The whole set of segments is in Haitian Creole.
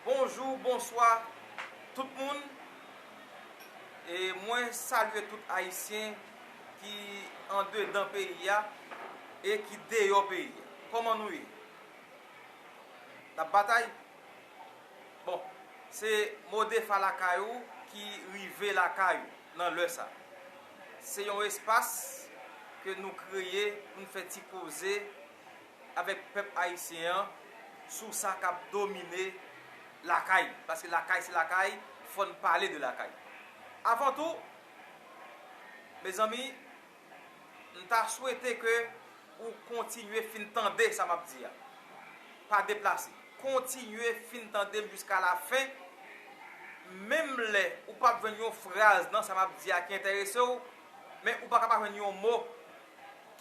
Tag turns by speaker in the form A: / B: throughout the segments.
A: Bonjou, bonswa tout moun e mwen salye tout ayisyen ki andedan peyi a e ki deyò peyi a. Kòman nou ye? N ap batay? Bon, se Modefa Lakay ou ki rive lakay ou nan lè sa. Se yon espas ke nou kreye pou n fè ti koze. avèk pèp ayisyen an sou sa kap domine lakay li paske lakay se lakay fòn pale de lakay avan tou mezanmi m ta swete ke ou kontinye fin tande sa map di a pa deplase kontinye fin tande m jiska la fen menm lè ou pap jwenn yon fraz nan sa map di a ki enterese w men ou paka pa jwenn yon mo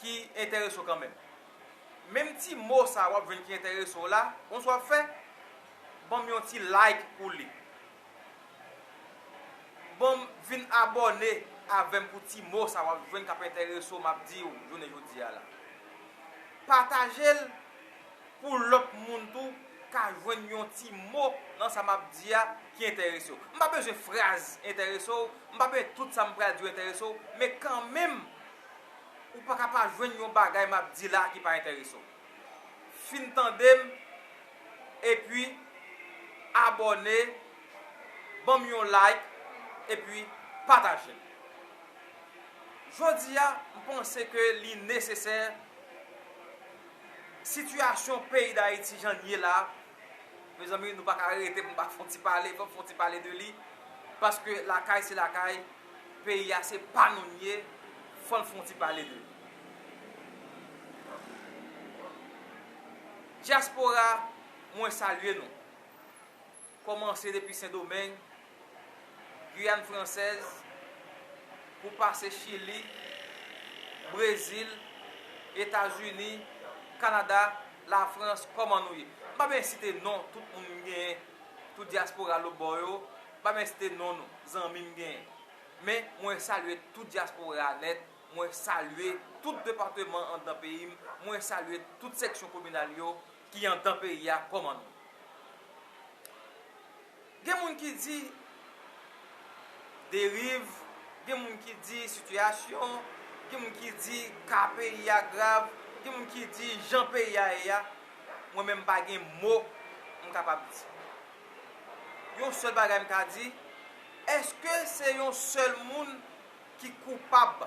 A: ki enterese'w kanmenm. Menm ti mo sa wap jwenn ki enterese'w la, konnsa wap fè? Banm yon ti like pou li. Banm vin abòne avèm pou ti mo sa wap jwenn kap enterese'w map di'w jounen jodia la. Pataje'l. pou lòt moun tou ka jwenn yon ti mo nan sa m ap di a ki enterese w. M pa bezwen fraz enterese w, m pa bezwen tout sa m pral di w enterese w, men kanmenm, ou pa ka pa jwenn yon bagay m ap di la ki pa enterese w. Fin tande m, epi abòne, ban m yon like, epi pataje l. Jodi a, m panse ke li nesesè. Sitiyasyon peyi Dayiti jan l ye la, mezanmi nou pa ka rete pou nou pa fè yon ti pale, fòk fè yon ti pale de li, paske lakay se lakay, peyi a se pa nou li ye, fò n fè yon ti pale de li. Dyaspora mwen salye nou. Kòmanse depi Sendomeng, Guyane Française, pou pase Chili, Brezil, Etazini, Kanada, Lafrans, kòman nou ye? M pa byen site non tout moun m genyen, tout dyaspora lobò yo, m pa byen site non nou, zanmi m genyen. Men, mwen salye tout dyaspora a nèt, mwen salye tout depateman anndan peyi m, mwen salye tout seksyon kominal yo, Ki andan peyi a koman nou. Gen moun ki di deriv, gen moun ki di sitiyasyon, gen moun ki di ka peyi a grav, gen moun ki di jan peyi a ye a, mwen menm pa gen mo m kapab di. Yon sèl bagay m ka di, èske se yon sèl moun ki koupab,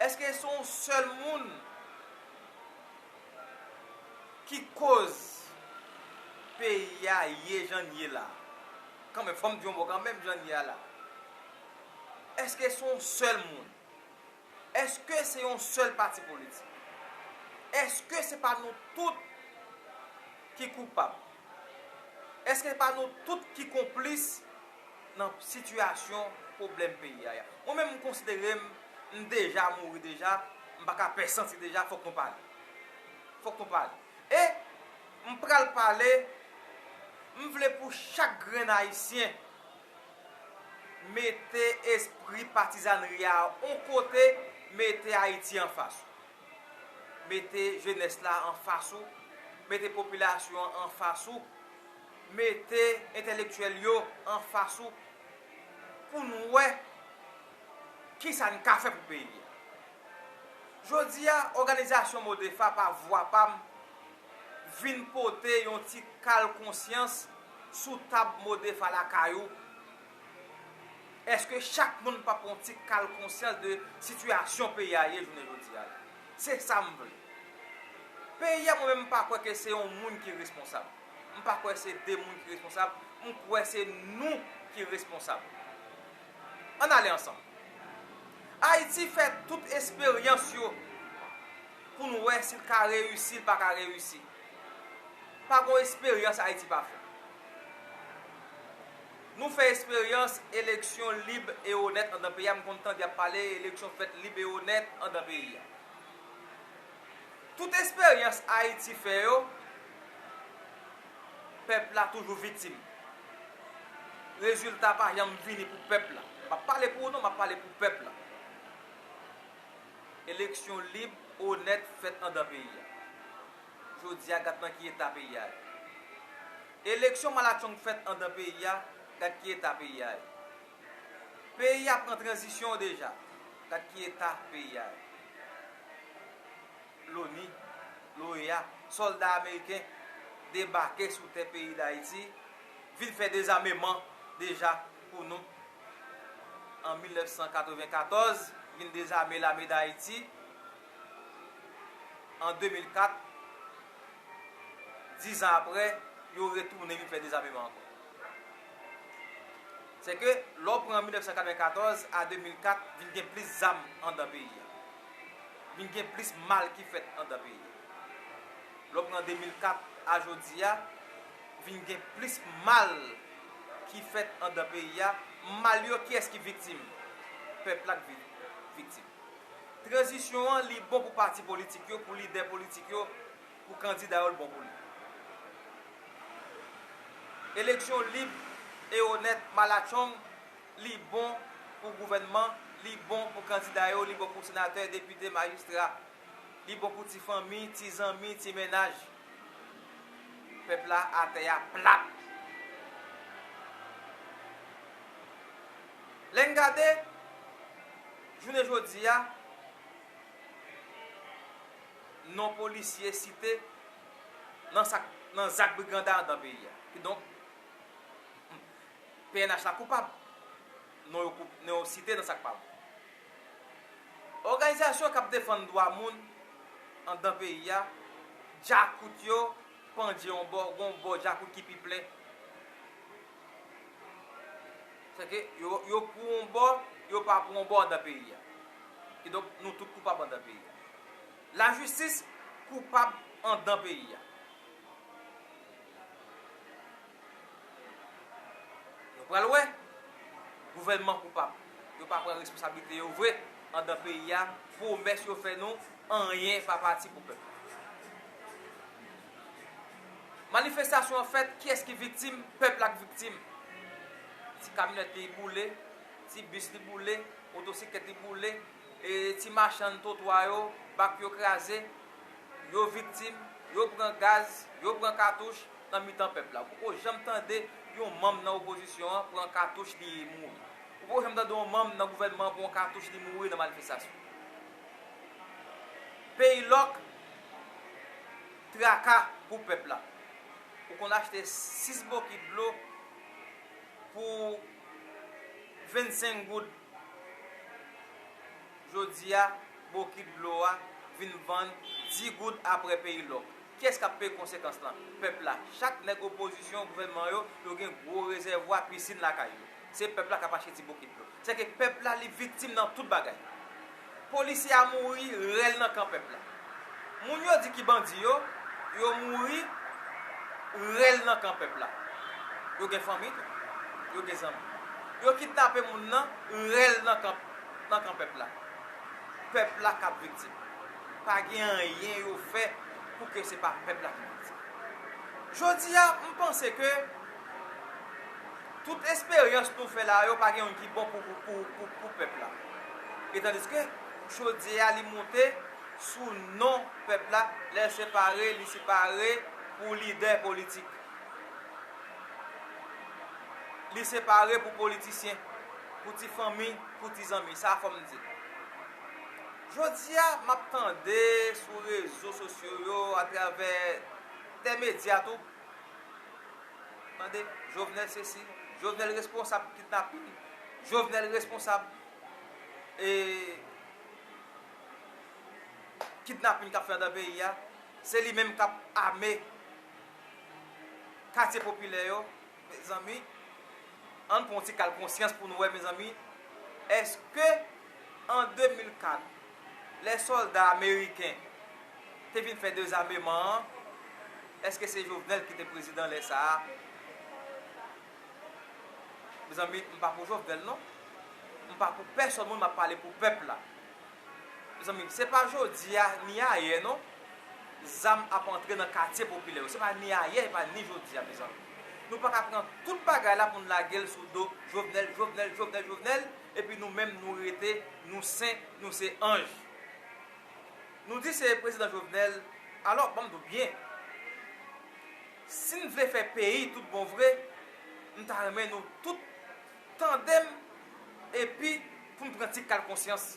A: èske se yon sèl moun. ki koz peyi a ye jan l ye la, kanmenm fò m di yon mo kanmenm jan l ye a la, èske se yon sèl moun, èske se yon sèl pati politik, èske se pa nou tout ki koupab, èske se pa nou tout ki konplis? nan sitiyasyon pwoblèm peyi aya. Mwen menm m konsidere m m deja mouri deja, m pa ka pè santi deja fòk nou pale. Fòk nou pale. E m pral pale, m vle pou chak grenn ayisyen mete espri patizanri a on kote, mete Ayiti an fas ou. Mete jenès la an fas ou, mete popilasyon an an fas ou. Mete entèlektyèl yo anfas ou pou n wè kisa n ka fè pou peyi a. Jodi a òganizasyon Modepha pa vwa pa m vin pote yon ti kal konsyans sou tab Modepha lakay ou. Eske chak moun pa pran yon ti kal konsyans de sitiyasyon peyi a ye jounen jodi a la? Se sa m vle. Peyi a mwen menm m pa kwè ke se yon moun ki responsab. M pa kwè se 2 moun ki responsab, m kwè se nou ki responsab. Ann ale ansanm. Ayiti fè tout esperyans yo pou n wè si l ka reyisi, l pa ka reyisi. Pa gon esperyans Ayiti pa fè. Nou fè esperyans eleksyon lib e onèt andan peyi a, m konn tande y ap pale eleksyon fèt lib e onèt andan peyi a. Tout esperyans Ayiti fè yo, Pèp la toujou vitim. Rezilta pa janm vini pou pèp la. M ap pale pou ou non, m ap pale pou pèp la. Eleksyon lib, onèt fèt andan peyi a. Jodi a, gad nan ki eta peyi a ye. Eleksyon malatchong fèt andan peyi a, gad ki eta peyi a ye. Peyi a pran tranzisyon deja, gad ki eta peyi a ye. Loni, l'OEA, sòlda ameriken debake sou tè peyi Dayiti, vin fè dezameman deja pou nou. An 1994, vin dezame lame Dayiti. An 2004, dizan aprè, yo retounen vin fè dezameman ankò. Sèke, lè w pran 1994 a 2004, vin gen plis zam andan peyi a. vin gen plis mal ki fèt andan peyi a. Lè w pran 2004 a jodi a, vin gen plis mal ki fèt andan peyi a. Mal yo, kiyès ki viktim? Pèp la ki viktim. Tranzisyon an, li bon pou pati politik yo, pou lidè politik yo, pou kandida yo, l bon pou li. Eleksyon lib e onèt, malatchong, Li bon pou gouvènman, li bon pou kandida yo, li bon pou senatè, depite, majistra. Li bon pou ti fanmi, ti zanmi, ti mennaj. Pèp la a tè a plat. Lè n gade jounen jodi a non polisye site nan zak briganda andan peyi a. Kidonk. Pnh la koupab, non yo non yo site nan sa k pa bon. Òganizasyon k ap defann dwa moun anndan peyi a, djakout yo pandje yon bò, gen yon bò djakout ki pi plen. Sa ke yo yo pou yon bò, yo pa pou yon bò anndan peyi a. Kidonk nou tout koupab anndan peyi a. Lajistis koupab anndan peyi a. Nou pral wè gouvènman koupab. Yo pa pran responsablite yo vre andan peyi a, pwomès yo fè nou anyen pa pati pou pèp. Manifestasyon an fèt kiyès ki viktim, pèp la k viktim. Ti kamyonèt li boule, ti bis li boule, motosiklèt li boule, ti machann twotwa yo, bak yo kraze, yo viktim, yo pran gaz, yo pran katouch, nan mitan pèp la. Ou poko janm tande yon manm nan opozisyon an pran katouch li e mouri. Ou poko janm tande yon manm nan gouvènman an pran katouch li mouri nan manifestasyon. Peyi lòk, traka pou pèp la. Ou konn achte 6 bokit dlo pou 25 goud. Jodi a, bokit dlo a vin vann 10 goud aprè peyi lòk. Kyes kap peye konsekans lan? Pèp la. Chak nèg opozisyon, gouvènman yo, yo gen gwo rezèvwa pisinn lakay yo. Se pèp la kap achte ti bokit yo. Se ke pèp la li viktim nan tout bagay. Polisye a mouri rèl nan kan pèp la. Moun yo di ki bandi yo, yo mouri rèl nan kan pèp la. Yo gen fanmi tou. Yo gen zanmi. Yo kidnape moun nan rèl nan kan pèp la. Pèp la kap viktim. pa gen anyen yo fè pou ke se pa pèp la ki di sa. Jodi a, m panse ke tout esperyans nou fè la yo pa gen youn ki bon pou pèp la. Etandiske, chodye a li moute sou non pèp la, lè l separe, li separe pou lidè politik. Li separe pou politisyen, pou ti fanmi, pou ti zanmi. Sa fò m di. Jodi a, m ap tande sou rezo sosyo yo atravè tè medya tou, tande, Jovenel sesi, Jovenel responsab kidnapin, Jovenel responsab kidnapin k ap fè anndan peyi a, se li menm k ap ame katye popilè yo. Mezanmi ann pran yon ti kal konsyans pou nou wè mezanmi eske an 2004 lè sòlda ameriken te vin fè dezameman an eske se Jovenel ki te prezidan lè sa a mezanmi m pa pou Jovenel non m pa pou pèsòn moun m ap pale pou pèp la. Mezanmi se pa jodi a ni ayè non zam ap antre nan katye popilè yo se pa ni ayè e pa ni jodi a mezanmi nou paka pran tout bagay la pou n lage l sou do Jovenel Jovenel Jovenel Jovenel epi nou menm nou rete nou sen nou se anj nou di se prezidan Jovenel alò ban m di w byen si n vle fè peyi tout bon vre m ta renmen nou tout Tande m epi pou m pran ti kal konsyans.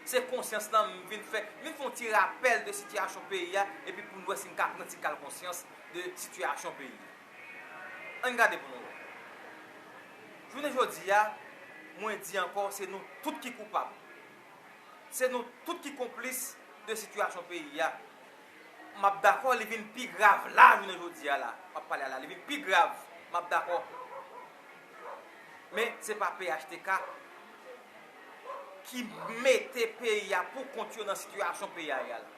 A: Se konsyans lan m vin fè. M vin fè yon ti rapèl de sitiyasyon peyi a epi pou n wè si n ka pran ti kal konsyans de sitiyasyon peyi a. An n gade pou nou wè. Jounen jodi a, mwen di ankò se nou tout ki koupab. Se nou tout ki konplis de sitiyasyon peyi a. Map dakò li vin pi grav la jounen jodi a la map pale a la li vin pi grav map dakò men se pa phtk ki mete peyi a pou kont yo nan sitiyasyon peyi a ye a la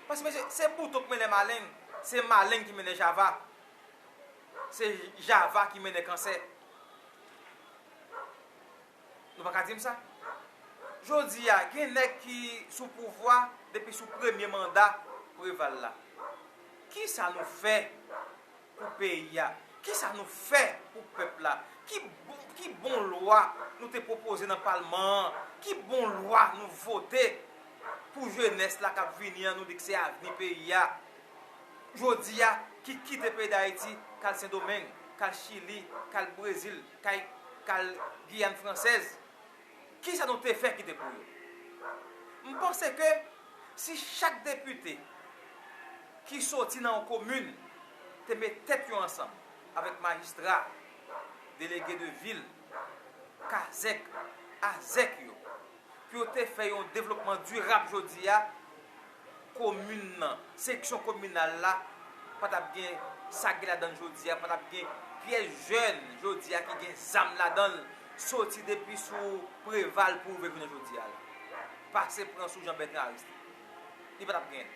A: paske mesye se bouton k mennen maleng se maleng ki mennen java se java ki mennen kansè. Nou pa ka di m sa. Jodi a, gen nèg ki sou pouvwa depi sou premye manda Preval la. Ki sa nou fè pou peyi a? Ki sa nou fè pou pèp la? Ki bon lwa nou te pwopoze nan palman an? Ki bon lwa nou vote pou jenès la k ap vini an nou di k se avni peyi a? Jodi a, ki kite peyi Dayiti k al Sendomeng, k al Chili, k al Brezil, Kay kal Guyane Française kisa nou te fè ki te pou yo? M panse ke si chak depite ki soti nan yon komin te met tèt yo ansanm avèk majistra, delege de vil, kazèk, azèk yo. pou yo te fè yon devlopman dirab jodi a, komin nan, seksyon kominal la pa t ap gen sa ki ladan l jodi a, pa t ap gen pyès jèn jodi a ki gen zam ladan l, soti depi sou Preval pou rive jounen jodi a la, pase pran sou Jean-Bertrand Aristide. Li pa t ap gen.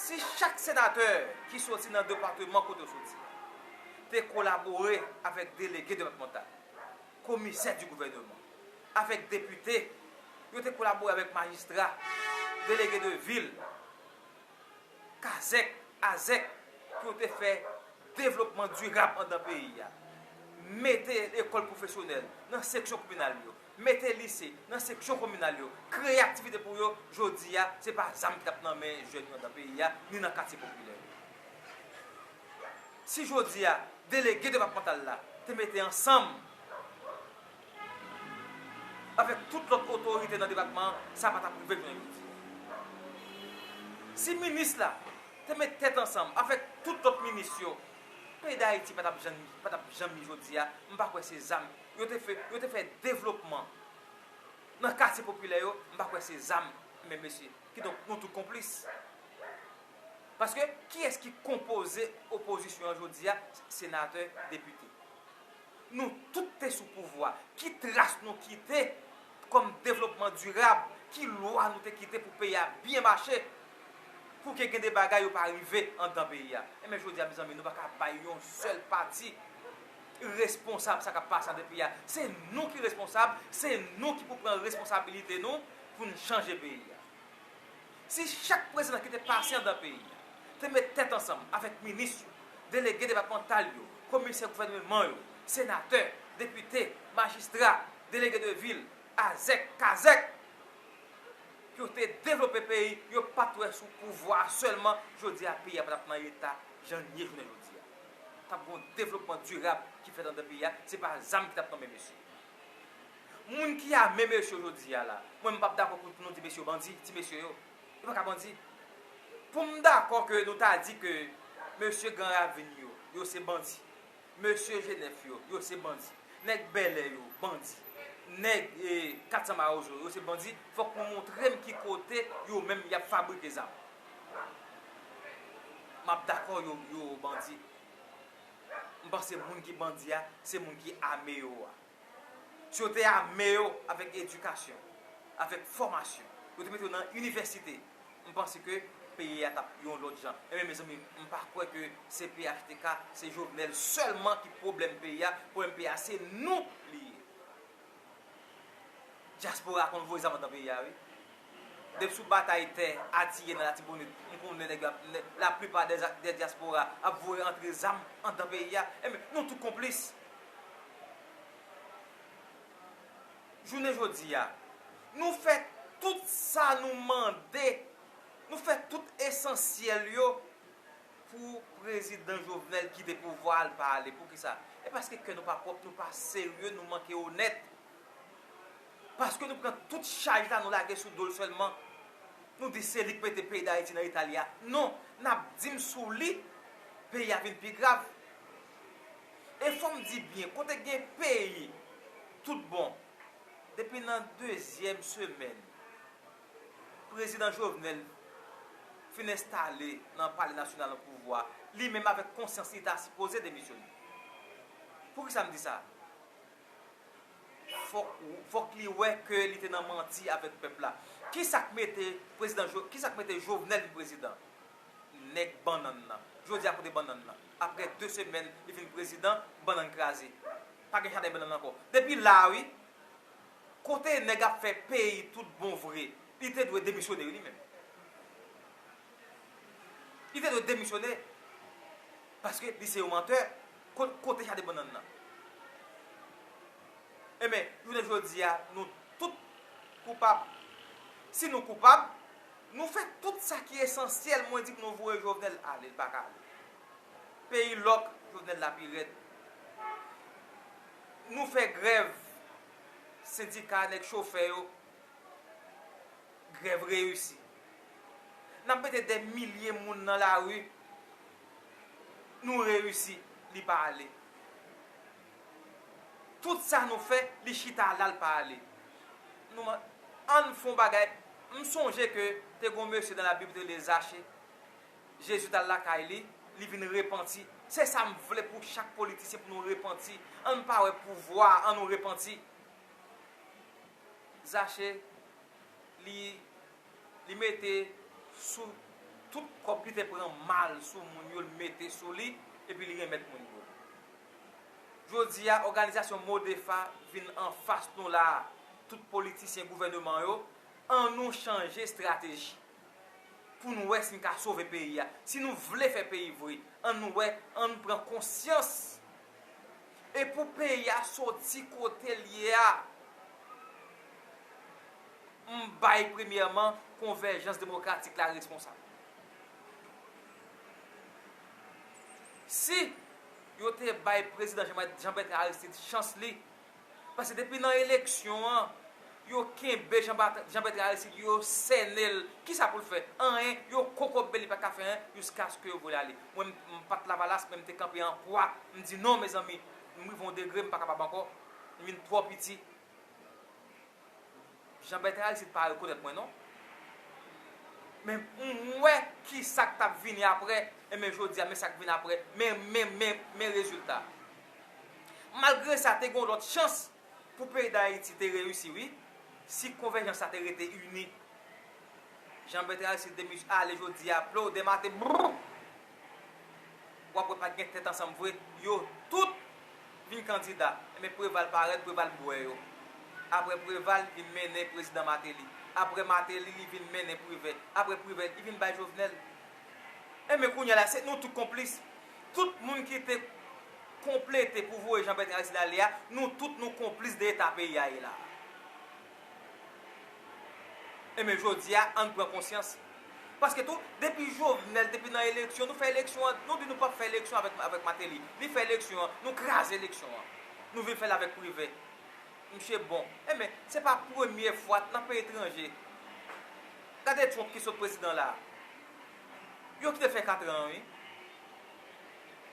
A: Si chak senatè ki soti nan depateman kote yo soti te kolabore avèk delege depatmantal, Komisè di gouvèneman avèk depite yo te kolabore avèk majistra, delege de vil, kazèk, azèk pou yo te fè devlopman dirab andan peyi a. Mete lekòl pwofesyonèl nan seksyon kominal yo, mete lise nan seksyon kominal yo, kreye aktivite pou yo, jodi a se pa zam ki t ap nan men jèn yo andan peyi a ni nan katye popilè yo. Si jodi a delege depatmantal la te mete ansanm avèk tout lòt otorite nan depatman an, sa pa t ap rive jounen jodi a. Si minis la te met tèt ansanm avèk tout lòt minis yo, peyi Dayiti pa t ap janm pa t ap janm ye jodi a. M pa kwè se zam yo te fè yo te fè devlopman nan katye popilè yo, m pa kwè se zam men mesye. Kidonk nou tout konplis. Paske kiyès ki konpoze opozisyon an jodi a, senatè, depite. Nou tout te sou pouvwa, ki tras nou kite kòm devlopman dirab, ki lwa nou te kite pou peyi a byen mache, pou ke gen de bagay yo pa rive anndan peyi a. Enben jodi a mezanmi nou pa ka bay yon sèl pati responsab sa k ap pase anndan peyi a. Se nou ki responsab, se nou ki pou pran responsabilite nou pou n chanje peyi a. Si chak prezidan ki te pase andan peyi a te met tèt ansanm avèk minis yo, delege depatmantal yo, komisè gouvèneman yo, senatè, depite, majistra, delege de vil, azèk, kazèk, pou yo te devlope peyi yo pat wè sou pouvwa a sèlman jodi a peyi a pa tap nan eta jan l ye jounen jodi a. Tap gen yon devlopman dirab ki fèt andan peyi a, se pa zam ki tap tonbe mesye. Moun ki ame mesye yo jodi a la, mwen m pap dakò pou nou di mesye yo bandi, ti mesye yo. Yo pa ka bandi. Pou m dakò ke nou ta di ke mesye Gran Ravin yo, yo se bandi. Mesye Jenèf yo, yo se bandi. Nèg Bèlè yo, bandi. Nèg 400 Mawozo yo, yo se bandi, fòk nou montre m ki kote yo menm y ap fabrike zam. M ap dakò yo bandi. M panse moun ki bandi a, se moun ki ame yo a. Si yo te ame yo avèk edikasyon, avèk fòmasyon, yo te mete yo nan inivèsite, m panse ke peyi a t ap yon lòt jan. Enben mezanmi, m pa kwè ke se phtk, se Jovenel sèlman ki pwoblèm peyi a, pwoblèm peyi a se nou li ye. Dyaspora konn voye zam andan peyi a wi. Depi sou batay tè Atiye nan Latibonit, m konnen nèg yo ap, la plipa dè dyaspora ap voye antre zam andan peyi a. Enben, nou tou konplis. Jounen jodi a, nou fè tout sa nou mande, nou fè tout esansyèl yo pou Prezidan Jovenel kite pouvwa a, l pa ale. Poukisa? E paske kè nou pa pwòp, nou pa serye, nou manke onèt. Paske nou pran tout chaj la nou lage sou dol selman nou di se li ki mete peyi dayiti nan eta li a non nap dim sou li peyi a vin pi grav e fom di byen kote gen peyi tout bon depi nan dezyem semen prezidan jovenel fin enstale nan pale nasyonal nan pouvwa li menm avek konsyans li ta sipoze demisyone poukisa m di sa. fok li wè ke li te nan manti avek pep la. Kisak mete prezidan jo kisak mete jovenel vin prezidan? Neg bannan nan. Jodia kote bannan nan? Apre 2 semen li vin prezidan bannan kraze. Pa gen jaden bannan anko. Depi la wi. Kote neg ap fe peyi tout bon vre. Li te dwe demisyone wi li menm. Li te dwe demisyone. Paske li se yon manteur. Kot kote jade bannann nan? Enben, jounen jodi a, nou tout koupab. Si nou koupab, nou fè tout sa ki esansyèl, mwen di pou nou voye Jovenel ale, li pa ka ale. Peyi lòk, Jovenel la pi rèd. Nou fè grèv, sendika, nèg chofè yo, grèv reyisi. N ap mete dè milye moun nan lari, Nou reusi li pa ale. Tout sa nou fè li chita lal pa ale. Nou man ann fon bagay m sonje ke te gon mesye nan la bib te rele zache Jezi tal lakay li li vin repanti se sa m vle pou chak politisyen pou nou repanti ann pa wè pouvwa an nou repanti zache li li mete sou tout kòb li te pran mal sou moun yo li mete sou li epi li renmèt moun yo. Jodi a òganizasyon Modefa vin anfas nou la a tout politisyen gouvèneman yo an nou chanje estrateji pou n wè si n ka sove peyi a si nou vle fè peyi vre an nou wè an nou pran konsyans e pou peyi a soti kote l ye a. M bay premyèman Konvèjans Demokratik la responsab. Si yo te bay Prezidan Jan Bètran Aristid chans li, paske depi nan eleksyon an, yo kenbe Jan Bètran Aristid, yo sène l, ki sa pou l fè? Anyen, yo kokobe li pa ka fè anyen jiskaske yo voye l ale. Mwen m pa t Lavalas men m te kanpe an kwa, m di non mezanmi, m rive yon degre m pa kapab ankò, m vin twò piti. Jean Bertrand Aristide pa rekonèt mwen non. Men m wè kisak tap vini aprè, enben jodi a men sak vin aprè, men men men men rezilta. Malgre sa te gen yon lòt chans pou peyi Dayiti te reyisi wi, si konvèjans la te rete ini. Jean Bertrand Aristide demis ale jodi a plow demate brrr. wap wè pat gen tèt ansanm vre yo tout vin kandida enben preval parèt preval bwè yo aprè preval li vin mennen prezidan mateli aprè mateli li vin mennen privè aprè privè li vin bay jovenel enben kounya la se nou tout konplis tout moun ki te konplete pou voye jan bètran aristid ale a nou tout nou konplis de eta peyi a ye la Enben jodi a ann pran konsyans. Paske tou depi Jovenel te vin nan eleksyon nou fè eleksyon an, nou di nou pap fè eleksyon avèk Mateli. Li fè eleksyon an, nou kraze eleksyon an. Nou vin fè l avèk Privè. Msye bon. Enben se pa premye fwa nan peyi etranje. Gade Trump ki sot prezidan la. Yo kite l fè katran an wi.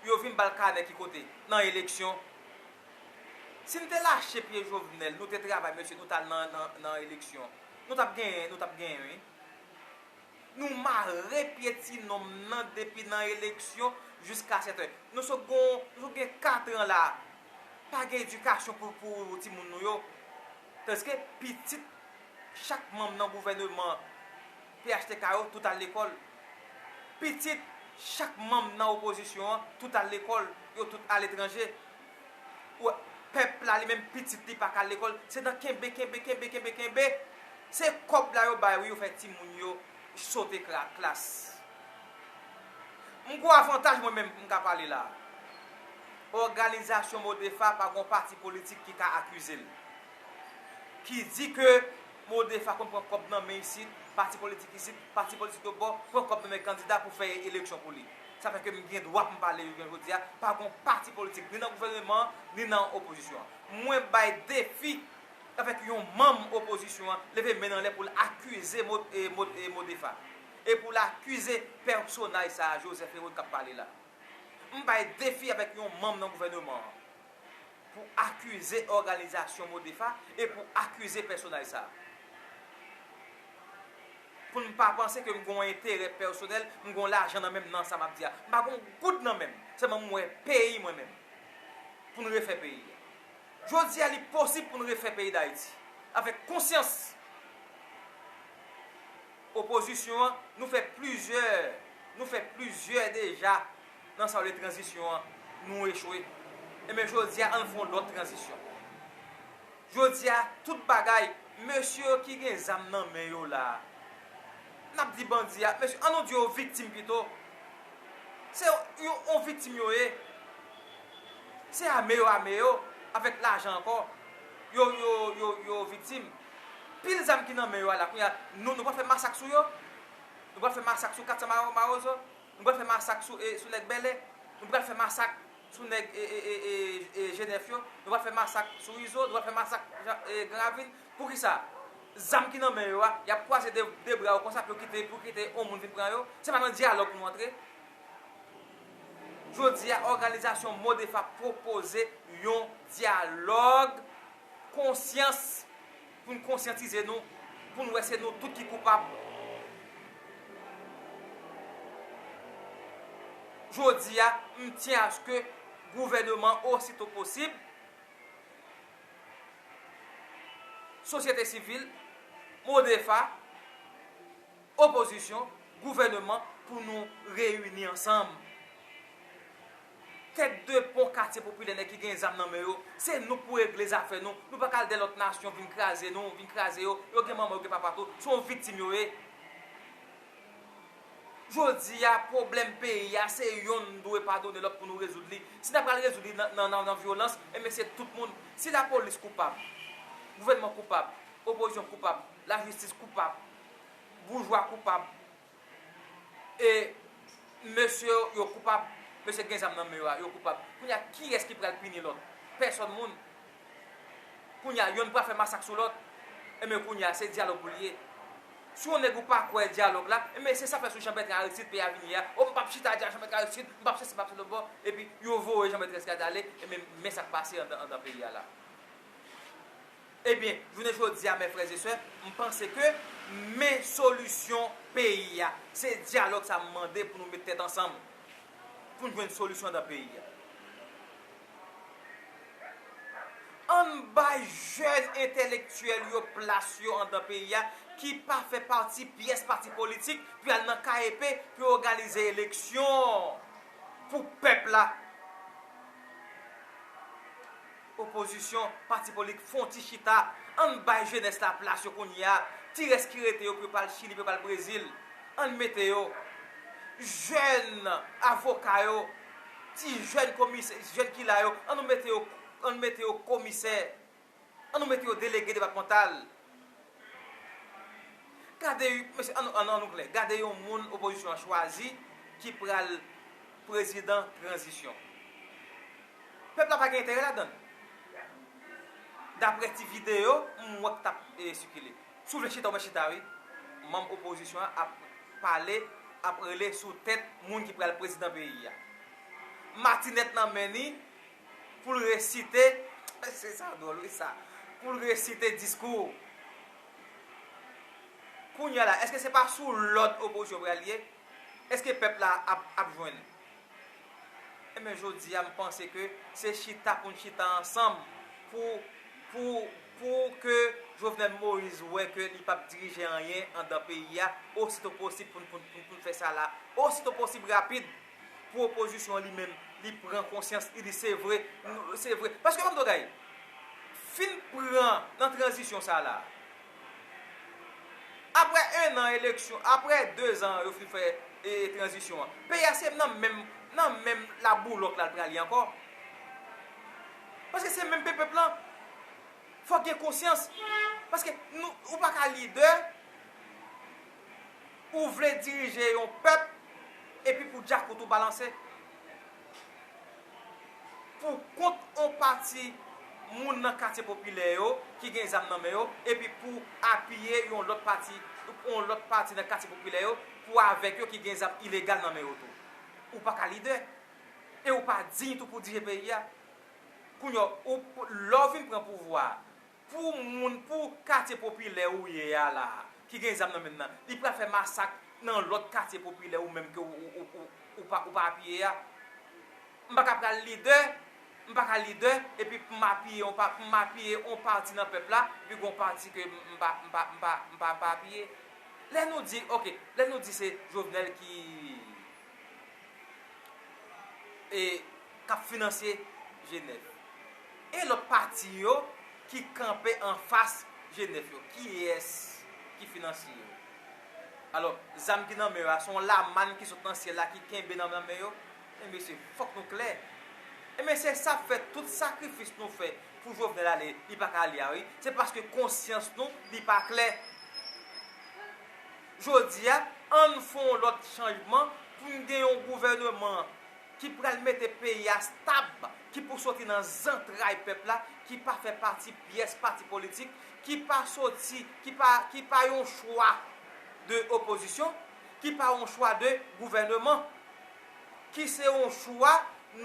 A: Yo vin ba l kanè ki kote? Nan eleksyon. Sin te lache pye jovenel nou te travay mesye nou tal nan eleksyon nou tap genyen nou tap genyen wi nou mare pye ti nonm nan depi nan eleksyon jiska sete nou sot gon nou sot gen 4 ans la pa gen edikasyon pou ti moun nou yo tandiske pitit chak manm nan gouveneman phtk yo tout al lekol pitit chak manm nan opozisyon an tout al lekol yo tout al etranje Wè pèp la li menm pitit li paka al lekòl se nan kenbe kenbe kenbe kenbe kenbe se kòb la yo bay wi yo fè timoun yo sote klas m gwo avantaj mwen menm m ka pale la òganizasyon modepha pa gon pati politik ki ka akize l ki di ke modepha konn pran kòb nan men isit pati politik isit pati politik lòt bò pran kòb nan men kandida pou fè eleksyon pou li. Sa fè ke m gen dwa pou m pale jounen jodi a, pa gen yon pati politik ni nan gouvèneman an, ni nan opozisyon an. Mwen bay defi avèk yon manm opozisyon an leve men l anlè pou l akize Modefa e pou l akize pèsonaj sa a, Joseph Hérault, k ap pale la. M bay defi avèk yon manm nan gouvèneman an. pou akize òganizasyon Modepha e pou akize pèsonaj sa a. Pou n pa panse ke m gen yon enterè pèsonèl, m gen lajan nan menm nan sa m ap di a. M pa gen yon goud nan menm. Sèlman m wè peyi mwen menm. Pou n refè peyi a. Jodi a li posib pou n refè peyi Dayiti. Avèk konsyans. Opozisyon an, nou fè plizyè, nou fè plizyè deja. nan sa yo rele tranzisyon an, nou echwe. Enben jodi a, ann fè yon lòt tranzisyon. Jodi a, tout bagay, mesye yo ki gen zam nan men yo la a, n ap di bandi a, mesye, an nou di yo viktim pito, se yon viktim yo ye, se ame yo ame yo, avèk lajan ankò, yo, yo, yo viktim. Pil zam ki nan men yo a la, kounye a, nou pral fè masak sou yo? Nou pral fè masak sou 400 mawozo? Nou pral fè masak sou e sou nèg bèlè Nou pral fè masak sou nèg e e e e e jenèf yo Nou pral fè masak sou izo Nou pral fè masak jan e gran ravin Poukisa zam ki nan men yo a Yap kwaze de de bra yo konsa pou yo kite pou kite yon moun vin pran yo Se pa nan dyalòg nou antre Jodi a òganizasyon modef ap pwopoze yon dyalòg konsyans Pou n konsyantize nou, pou n wè se nou tout ki koupab. Jodi a, m tyen aske gouvèneman osito posib, sosyete sivil, MODEFA, opozisyon, gouvèneman pou nou reyini ansanm. Tèt de pon katye popilè nèg ki gen zam nan men yo, se nou pou regle zafè nou, nou pa ka al dèyè lòt nasyon vin kraze nou, vin kraze yo, yo gen manman yo gen papa tou, se yon viktim yo ye. Jodi a pwoblèm peyi a se yonn dwe padone lòt pou nou rezoud li, si nan pral rezoud li nan vyolans enben se tout moun, si lapolis koupab, gouvènman koupab, opozisyon koupab, lajistis koupab, boujwa koupab, e mesye yo koupab mesye gen zam nan men yo a yo koupab kounya kiyès ki pral pini lòt pèsòn moun kounya yonn pral fè masak sou lòt enben kounya se dyalòg pou li ye si yon nèg ou pa kwè dyalòg la enben se sa fè sou Janbètran Aristid peyi a vini ye a o m pap chita di a Janbètran Aristid m pap sèsi m pap sèlòbò epi yo voye Janbètran Aristid ale enben men sa k pase andan peyi a la. Ebyen, jounen jodi a, mè frè e sè, m panse ke men solisyon peyi a. Se dyalòg sa m mande pou nou met tèt ansanm, pou n jwenn solisyon dan peyi a. An n bay jèn entèlektyèl yo plas yo andan peyi a, ki pa fè pati pyès pati politik, pou y al nan KEP, pou yo òganize eleksyon pou pèp la. Opozisyon, pati politk fon ti chita, ann bay jenès la plas yo kounye a, ti rès ki rete yo pou yo pa al chili pou yo pa al brezil, ann mete yo. Jèn avoka yo, ti jèn komisè, jèn ki la yo, annou mete yo, ann mete yo komisè, annou mete yo delege depatmantal. Gade yon, mesye an nou an nou klè, gade yon moun opozisyon an chwazi ki pral prezidan tranzisyon. Pèp la pa gen enterè ladan l. Daprè ti videyo m wè k t ap sikile. Si w vle chita ou mèt chita wi. Manm opozisyon an ap pale, ap rele sou tèt moun ki pral prezidan peyi a. Matinèt nan men ni. pou l resite, mesye sa dwòl wi sa, pou l resite diskou. Kounya la, èske se pa sou lòd opozisyon pral ye? Èske pèp la ap jwenn? Enben jodi a m panse ke se chita pou n chita ansanm pou pou pou ke Jovenel Moïse wè ke li pap dirije anyen andan peyi a, osito posib pou n pou n fè sa la, osito posib rapid. pwopozisyon li menm li pran konsyans li di se vre se vre paske gade yon bagay fin pran nan tranzisyon sa la aprè 1 an eleksyon aprè 2 zan yo fin fè e tranzisyon an peyi a se nan menm nan menm la boulòk la pral ye ankò paske se menm pepèp lan fòk gen konsyans paske nou ou pa ka lidè Ou vle dirije yon pèp epi pou djakout ou balanse pou kont on pati moun nan katye popilè yo ki gen zam nan men yo epi pou apiye yon lòt pati yon lòt pati nan katye popilè yo pou avèk yo ki gen zam ilegal nan men yo tou. Ou pa ka lidè e ou pa diy tou pou dirije peyi a. Kounye a, lè ou vin pran pouvwa a, Pou moun pou katye popilè ou ye a la a ki gen zam nan menm nan li pral fè masak nan lòt katye popilè ou menm ke ou pa apiye a? M pa ka pral lidè, m pa ka lidè epi pou m apiye yon pati nan pèp la epi gen yon pati ke m pa apiye. Lè nou di ok, lè nou di se Jovenel ki. e k ap finansye Jenèf e lòt pati yo ki kanpe anfas Jenèf yo, kiyès ki finansye yo? Alò, zam ki nan men yo a, se yon lamann ki sot nan syèl la ki kenbe nan men yo? Men mesye, fòk nou klè. Enben, se sa k fè tout sakrifis nou fè pou Jovenel ale, li pa ka ale a wi. Se paske konsyans nou li pa klè. Jodi a, ann fè yon lòt chanjman pou n gen yon gouvèneman ki pral mete peyi a stab, ki pou soti nan zantray pèp la, ki pa fè pati pyès pati politik, ki pa soti, ki pa, ki pa yon chwa de opozisyon, ki pa yon chwa de gouvèneman. ki se yon chwa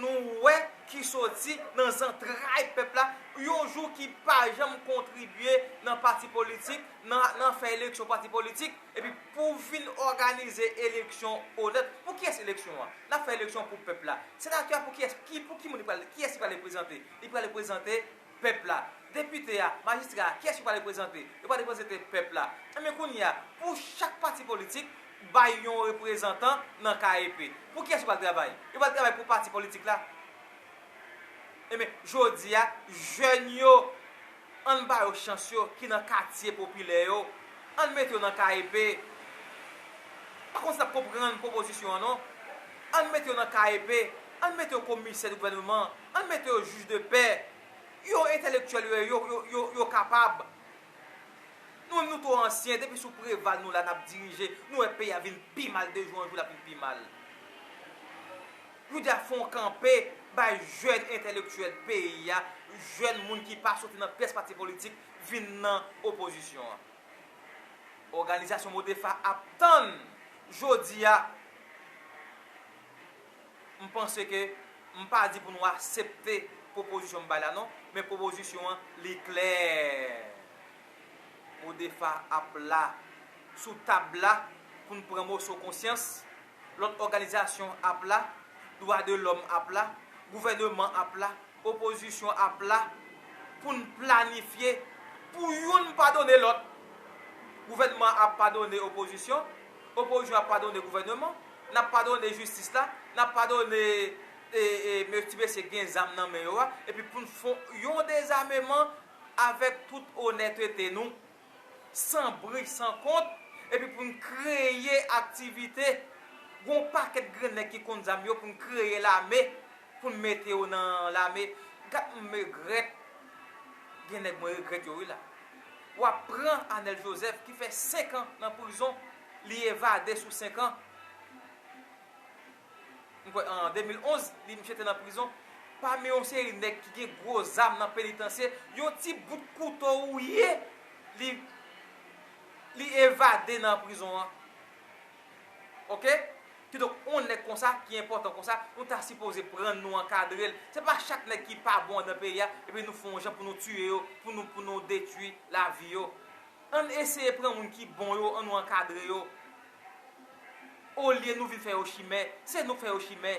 A: nou wè ki soti nan zantray pèp la, yon jou ki pa janm kontribye nan pati politik, nan fè eleksyon pati politik, epi pou vin òganize eleksyon onèt. Pou kiyès eleksyon an? N ap fè eleksyon pou pèp la. Senatè a pou kiyès? Pou ki moun li pral? Kiyès li pral reprezante? Li pral reprezante. pèp la. Depite a, majistra a, kiyès yo pral reprezante? Yo pral reprezante pèp la. Enben kounye a, pou chak pati politik bay yon reprezantan nan KEP. Pou kiyès yo pral travay? Yo pral travay pou pati politik la. Enben, jodi a, jèn yo, an n ba yo chans yo ki nan katye popilè yo. An n mete yo nan KEP. Pa konn si n ap konprann pwopozisyon an non. An n mete yo nan KEP. An n mete yo komisè de gouvèneman. Ann mete yo juge de paix. Yo entèlektyèl yo ye yo yo yo kapab. Nou menm nou two ansyen depi sou Preval nou la nap dirije nou wè peyi a vin pi mal de jou an jou lap vin pi mal. Nou dya fon kanpe bay jèn entèlektyèl peyi a, jèn moun ki pa soti nan pyès pati politik vin nan opozisyon an. Òganizasyon Modepha ap tann jodi a. M panse ke m pa di pou nou asepte pwopozisyon m bay la non, men pwopozisyon an li klè. Mo defa ap la sou tab la pou n pran moso konsyans, lòt òganizasyon ap la, dwa de lòm ap la, gouvèneman ap la, opozisyon ap la pou n planifye pou youn padone lòt. Gouvènman an ap padone opozisyon. Opoziyon ap padone gouvèneman, nap padone jistis la, nap padone ti mesye gen zam nan men yo a, epi poun fò yon dezameman avèk tout onètete nou, san bri san kont, epi poun kreye aktivite, gon pakèt grenn nèg ki konn zam yo poun kreye lame Pou n mete yo nan lame. Gad m regrèt gen nèg mwen regrèt yo wi la w ap pran Anèl Jozèf ki fè 5 an nan prizon li evade sou 5 an m kwè an 2011 li misye te nan prizon pami yon seri nèg ki gen gwo zam nan penitansye yon ti bout kouto ou ye li li evade nan prizon an. Ok kidonk yon nèg konsa ki enpòtan konsa nou ta sipoze prann nou ankadrel se pa chak nèg ki pa bon andan peyi a epi nou fè yon jan pou nou tiye yo pou nou pou nou detwi lavi yo ann eseye pran moun ki bon yo annou ankadre yo olye nou vin fè yo chimè se nou k fè yo chimè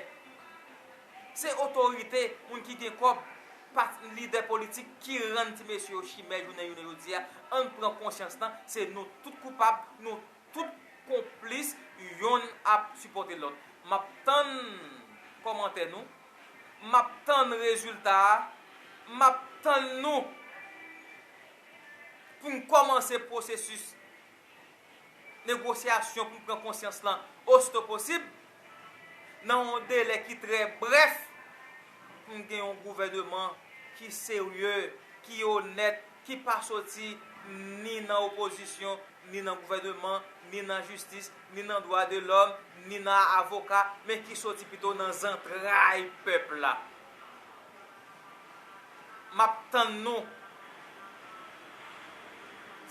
A: se otorite moun ki gen kòb pa lidè politik ki rann ti mesye yo chimè jounen jounen jodi a ann pran konsyans nan se nou tout koupab nou Tout konplis yonn ap sipòte lòt. Map tann kòmantè nou. Map tann rezilta a. Map tann nou pou n kòmanse pwosesis negosyasyon pou n pran konsyans lan osito posib nan yon delè ki trè brèf pou n gen yon gouvèneman ki serye, ki onèt, ki pa soti ni nan opozisyon, ni nan gouvèneman, ni nan jistis, ni nan dwa de lòm, ni nan avoka, men ki soti pito nan zantray pèp la. M ap tann nou.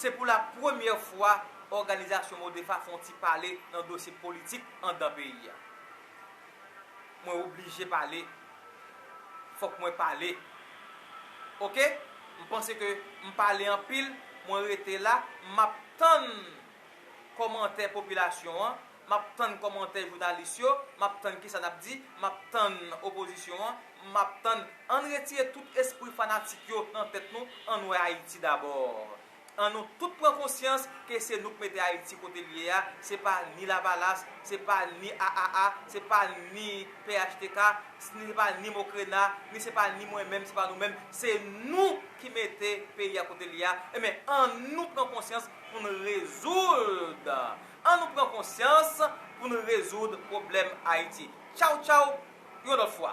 A: Se pou la premyè fwa òganizasyon Modrefa fè yon ti pale nan dosye politik anndan peyi a. Mwen oblije pale fok mwen pale ok m panse ke m pale anpil mwen rete la map tann komantè popilasyon an map tann komantè jounalis yo map tann kisa nap di map tann opozisyon an map tann ann retire tout espri fanatik yo nan tèt nou ann wè ayiti dabò An nou tout pran konsyans ke se nou k mete Ayiti kote l ye a, se pa ni Lavalas, se pa ni AAA, se pa ni phtk, se pa ni Mokrena, ni se pa ni mwen menm, se pa nou menm, se nou ki mete peyi a kote l ye a, enben an nou pran konsyans pou n rezoud, an nou pran konsyans pou n rezoud pwoblèm Ayiti. Tchaw tchaw, yon lòt fwa.